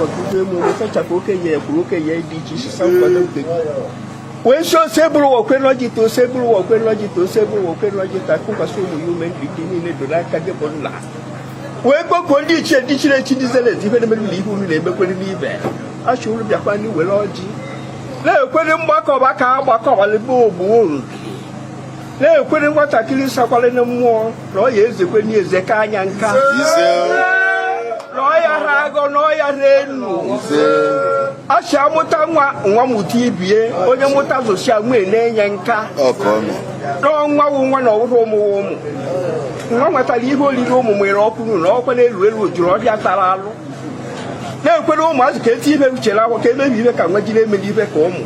ọtụtụ emume sachapụ okenye ya kwuru okenye ya dị iche iche sa nkwado nke gị wee si osebụrụwa kwe n'ọjị taa osebụrụwa kwe n'ọjị taa osebụrụwa kwe n'ọjị taa kụkwasị ụmụ ya ume ndị gị niile doro aka gị bụ nna wee kpọkuo ndị ichie ndị chiri echi ndị zere eze ife na-emere ụlọ ihe unu na-emekwere n'ibe asị unu bịakwanụ were ọjị na-ekwere mgbakọba ka a gbakọbalị be ogbu unu na ekwenụ nwatakịrị sakwara na mmụọ na ọ ya ezekwe n'eze ka anya nka na ọ ya ha agọ na ọ ya ha enu asị amụta nwa nwa mụta ibie onye mụta zụsia nwee na-enye nka na ọ nwa wụ nwa na ọ wụrụ ụmụ ụmụ nwa nwetara ihe oriri ụmụ nwere ọkwụrụ na ọkwa na-elu elu jụrụ ọhịa tara alụ na ekwenụ ụmụazị ka eti ife uche na akwa ka eme ife ka nwa jiri emeli ife ka ụmụ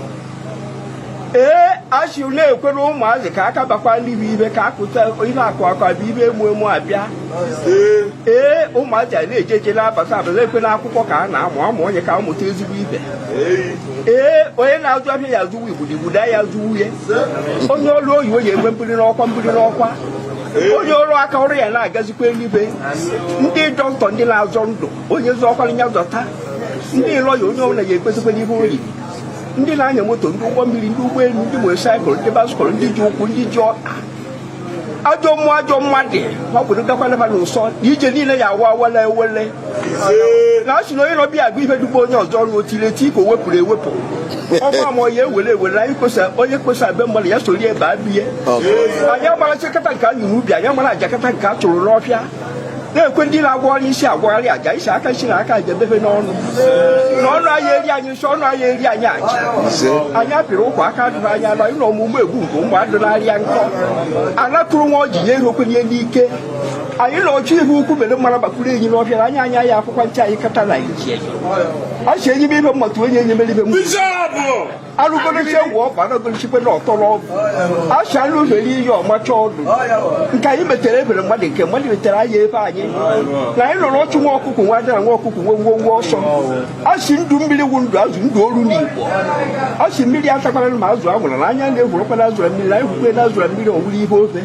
ee asị na-ekwere ụmụazị ka aka bakwa ndị bụ ibe ka akụta ihe akụ akụ abụ ibe emu emu abịa ee ụmụazị a na-eje eje na-abata abata ekwe na akwụkwọ ka a na-amụ amụ onye ka amụta ezigbo ife ee onye na-azụ ahịa ya azụwa igbudu igbudu ya azụwu ya onye ọrụ oyibo ya enwe mbuli n'ọkwa mbuli n'ọkwa onye ọrụ aka ọrụ ya na-agazikwa eluigwe ndị dọkịta ndị na-azọ ndụ onye zọkwara ya zọta ndị lọya onye ọbụla ya ekpezikwara ihe o ndị na-anya moto ndị ụgbọ mmiri ndị ụgbọelu ndị motosaịkụl ndị baskụl ndị ji ụkwụ ndị ji ọka ajọ mmụọ ajọ mmadụ ọ bụrụ gakwana ha n'ụsọ na ije niile ya awa awala ewele na a sị na onye nọ ọfịa agụ ihe dugbo onye ọzọ ọrụ otile ti ka o wepụrụ ewepụ ọgba ma ya ewere ewere anyị kwesa onye kwesa be mmadụ ya soro ebe a bie anyị agbara chekata nke anyị n'ubi anyị agbara ajakata nke a chụrụ n'ọfịa na-ekwe ndị na-agwọ ọrụ isi agwagharị aja isi aka isi na aka aja ebefe n'ọnụ na ọnụ anyị eri anyị nsọ ọnụ anyị eri anyị aja anyị apịrị ụkwụ aka adụrụ anyị ala ịnọ ọmụmụ egbu nke ụmụ adụnarịa nkọ anakụrụ nwa ọji ya erokwe ihe n'ike anyị na ọchụ ihe ukwu mere mara gbakwuru enyi n'ọfịa anya anya ya akwụkwọ nche anyị kata na anyị ji enyi ọ si enyi m ibe mmata onye enyi mere ibe m alụgoloche wụ ọba nagolochikwe na ọtọrọ ọgwụ asị anụ mere ihe ọmacha ọdụ nke anyị metere ebere mmadụ nke mmadụ metere anyị ebe anyị na anyị nọrọ ọchụ nwa ọkụkụ nwe ada nwa ọkụkụ nwe nwe nwe ọsọ asị ndụ mmiri wụ ndụ azụ ndụ oru na igbo asị mmiri atakwana ma azụ anwụna anya na-egwurọkwa na azụ na mmiri anyị gwukwe na azụ na mmiri ọ wụrụ ihe ofe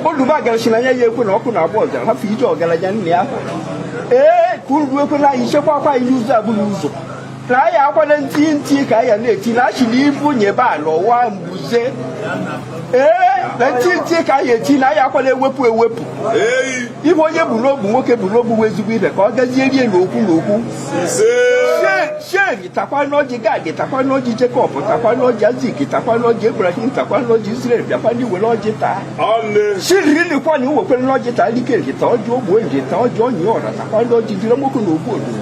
oluba agarasị na anya ya ekwena ọkụ na-agba ọzara hafụ ije ọgaranya nne ya ee ka unu ekwena anyị chekwa akwa anyị n'ụzọ abụghị ụzọ na anyị akwana ntị ntị ka anyị na-eti na asị na ibu nyịbe ala ọ waa mbuze ee na ntị ntị ka anyị eti na anyị akwana ewepụ ewepụ ife onye bu n'obu nwoke bu n'obu bụ ezigbo ife ka ọ gazie rie n'okwu n'okwu sheri takwa n'ọjị gad takwa n'ọjị jekọb takwa n'ọjị aịzik takwa n'ọjị ebrahim takwa n'ọjị israel bịakwanụ were ọjị taa shiriri likwa na iwekwere n'ọjị taa likeri ta ọjị ogbo eji ta ọjị onye ọra takwa n'ọjị jiri nwoke na ogbu odo